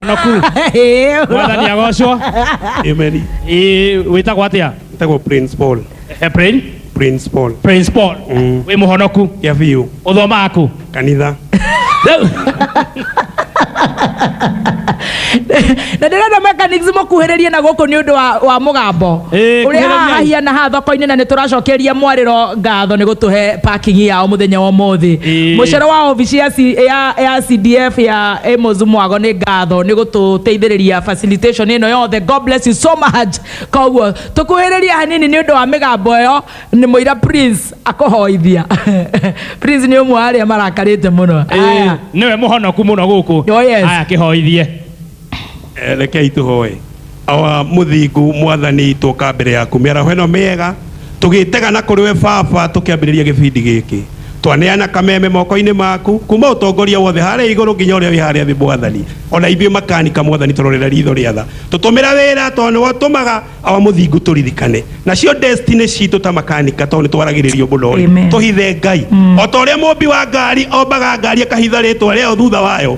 naku mwathani agocwo Amen. Ĩ, wĩtagwo atĩa Ĩtagwo Prince Paul. Eh, Prin- Prince Paul. prince paul Mm. wĩ mũhonoku Kĩa biũ. ũthomaga kũ Kanitha. Rĩu- na ndĩrenda mechanics mũkuhĩrĩrie na gũkũ nĩ ũndũ wa, wa mũgambo Ĩĩ, ũrĩa kuhĩrĩriai. haha hahiana haha thoko-inĩ na nĩ tũracokeria mwarĩro ngatho nĩ gũtũhe parking yao mũthenya wa ũmũthĩ Ĩĩ. mũcoro wa obici ya, C- ya, ya cdf ya Amos Mwago nĩ ngatho nĩ gũtũteithĩrĩria facilitation ĩno yothe God bless you so much koguo tũkuhĩrĩria hanini nĩ ũndũ wa mĩgambo ĩyo nĩ mũira Prince akũhoithia Prince nĩ ũmwe wa arĩa marakarĩte mũno Aya. nĩwe mũhonoku mũno gũkũ Oh, yes. aya kĩhoithie Eh, rekei tũhoe Awa mũthingu mwathani twoka mbere yaku mĩaraho ĩno mĩega tũgĩtega na kũrĩ we baba tũkĩambĩrĩria gĩbindi gĩkĩ twaneana kameme mokoinĩ maku kuma ũtongoria wothe harĩa igũrũ nginya ũrĩa wĩ harĩa thĩ mwathani ona ithuĩ makanika mwathani tũrorera ritho rĩa tha tũtũmĩra wĩra tondũ nĩwe ũtũmaga awa mũthingu tũririkane nacio destiny citũ ta makanika tondũ nĩtwaragĩrĩrio mũno rĩ Amen. tũhithe ngai ota ũrĩa mũmbi wa ngari ombaga ngari akahitha rĩtwa rĩayo thutha wayo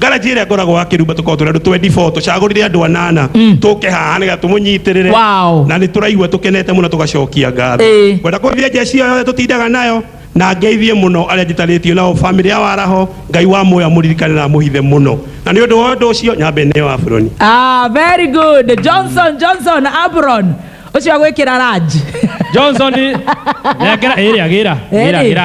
ngaraji ĩrĩa ngoragwo wa kĩrumba tũkoragwo tũrĩ andũ 24 tũcagũrire andũ anana tũke haha nĩgetha tũmũnyitĩrĩre Wow. na nĩ tũraigua tũkenete mũno tũgacokia ngatho Ĩĩ. ngwenda kũgeithia njeci ĩyo yothe tũtindaga nayo na ngeithie mũno arĩa njitarĩtio nao bamĩrĩ ya waraho ngai wa muoya mũririkane na mũhithe mũno na nĩ ũndũ wa ũndũ ũcio nyambe nĩ wa buroni Ah, very good. Johnson, Johnson, Abron. Ucio agwikira ranji. Johnson nengera ĩrĩa gĩra gĩra Ĩrĩ. gĩra